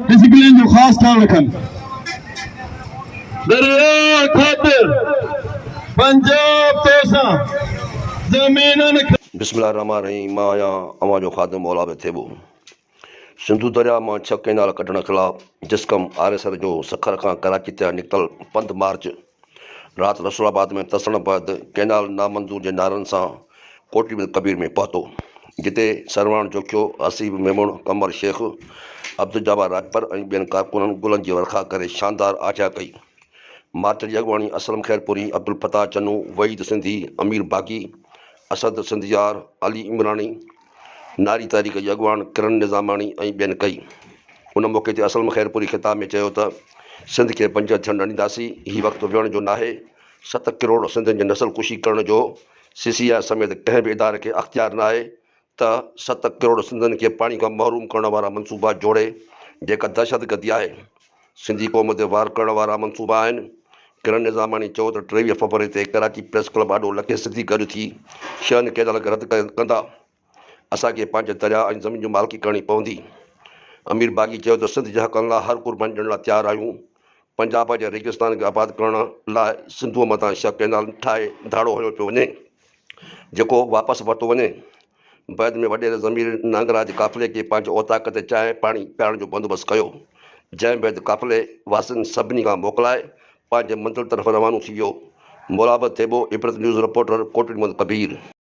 Discipline جو خاص خيال رکن. درياء خاطر پنجاب تو سان زمينن کي. بسم الله الرحمٰن الرحيم مان آهيان اوهان جو خادم موليٰ به ٿيٻو سنڌو درياء مان ڇهه ڪئنال ڪڍڻ خلاف جسقم آريسر جو سکر کان ڪراچي تي نڪتل پنڌ مارچ رات رسول آباد ۾ ترسڻ بعد ڪئنال نامنظور جي نعرن سان ڪوٽڙي ۾ ڪبير ۾ پهتو، جتي سرواڻ جوکيو، حسيب ميمڻ، قمر شيخ، عبدالجبار راڄپر ۽ ٻين ڪارڪنن گلن جي ورکا ڪري شاندار آجيان ڪئي. مارچ جي اڳواڻي اسلم خيرپوري، عبدالفتاح چنو، وحيد سنڌي، امير باغي، اسد سنڌيار، علي عمراڻي، ناري تحريڪ جي اڳواڻ ڪرن نظاماڻي ۽ ٻين ڪئي. ان موقعي تي اسلم خيرپوري خطاب ۾ چيو ته سنڌ کي بنجر ٿيڻ نه ڏينداسين، هي وقت ويهڻ جو ناهي، ست ڪروڙ سنڌين جي نسل ڪشي ڪرڻ جو سي سي آء سميت ڪنهن به اداري کي اختيار ناهي ته ست ڪروڙ سنڌين کي پاڻي کان محروم ڪرڻ وارا منصوبا جوڙي جيڪا دهشتگردي آهي سنڌي قوم تي وار ڪرڻ وارا منصوبا آهن. ڪرن نظاماڻي چيو ته ٽيويهه فيبروري تي ڪراچي پريس ڪلب آڏو لکين سنڌي گڏ ٿي شھن ڪئنال کي رد ڪندا، اسان کي پنهنجي درياء ۽ زمين جي مالڪي ڪرڻي پوندي. امير باغي چيو ته سنڌ جي حقن لاء ھر قرباني ڏيڻ لاء تيار آھيون، پنجاب جي ريگستان کي آباد ڪرڻ لاء سنڌوء مٿان شھه ڪئنال ٺاھي ڌاڙو ھنيو پيو وڃي، جيڪو واپس ورتو وڃي. بعد ۾ وڏيري ضمير نانگراج قافلي کي پنهنجي اوطاق تي چانهه پاڻي پيارڻ جو بندوبست ڪيو، جنهن بعد قافلي واسين سڀني کان موڪلائي پنهنجي منزل طرف روانو ٿي ويو. مورابه ٿيٻو، عبرت نيوز رپورٽر، ڪوٽڏيمل ڪبير.